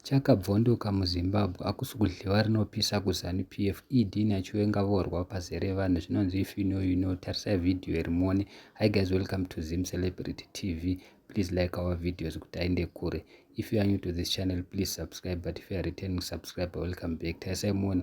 Chakabvondoka muZimbabwe hakusi kudhliwa rinopisa kuZanu PF ED naChiwenga vorwa pazere vanhu zvinonzi if you know you know tarisai video iri muone Hi guys welcome to Zim Celebrity TV please like our videos kuti aende kure if you are new to this channel please subscribe but if you are returning subscriber welcome back tarisai muone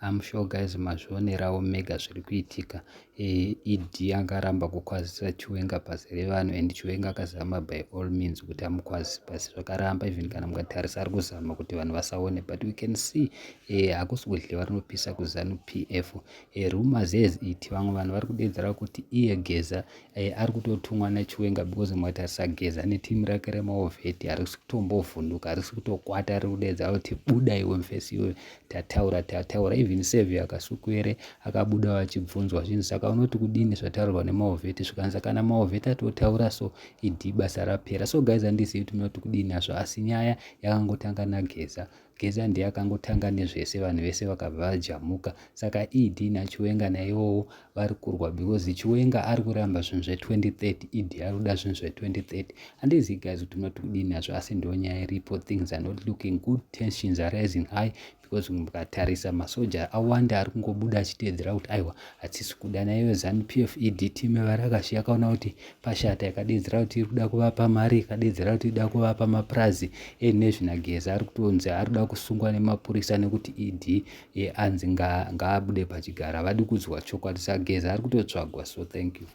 I'm sure guys mazvionerawo mega zviri kuitika ED e angaramba kukwazisa Chiwenga pasi revanhu and Chiwenga akazama by all means kuti amukwazise pasi zvakaramba even kana mukatarisa ari kuzama kuti vanhu vasaone but we can see eh, hakusi kudhliwa rinopisa kuZanu PF eh, rumors as it vamwe vanhu vari kudedzera kuti iye Geza Eh, ari kutotumwa nachiwenga because mwati asageza neteam rake remaovheti harisi kutombovhunduka harisi kutokwata ari kudedza kuti buda iwe mfesi iwe tataura tataura even sevi akasukuere akabuda vachibvunzwa zvinhu saka unoti kudini zvataurwa nemaovheti zvikanza kana maovheti atotaura so idi basa rapera so guys andizivi kuti munoti kudini hazvo asi nyaya yakangotanga nageza Geza ndiye akangotanga nezvese vanhu vese vakabva vajamuka saka ED naChiwenga naivowo vari kurwa because Chiwenga ari kuramba zvinhu zve2030 ED ari kuda zvinhu zve2030 handizivi guys kuti munoti kudii nazvo asi ndo nyaya iripo things are not looking good tensions are rising high because mukatarisa masoja awanda ari kungobuda achiteedzera kuti aiwa hatisi kuda naiyo zanupf ED team evari akashiya kaona kuti pashata ikadeedzera kuti iri kuda kuvapa mari ikadeedzera kuti ida kuvapa mapurazi enezvinageza ari kutonzi ari kuda kusungwa nemapurisa nekuti ed anzi ngaabude pachigara havadi kudzwa chokwadi sageza ari kutotsvagwa so thank you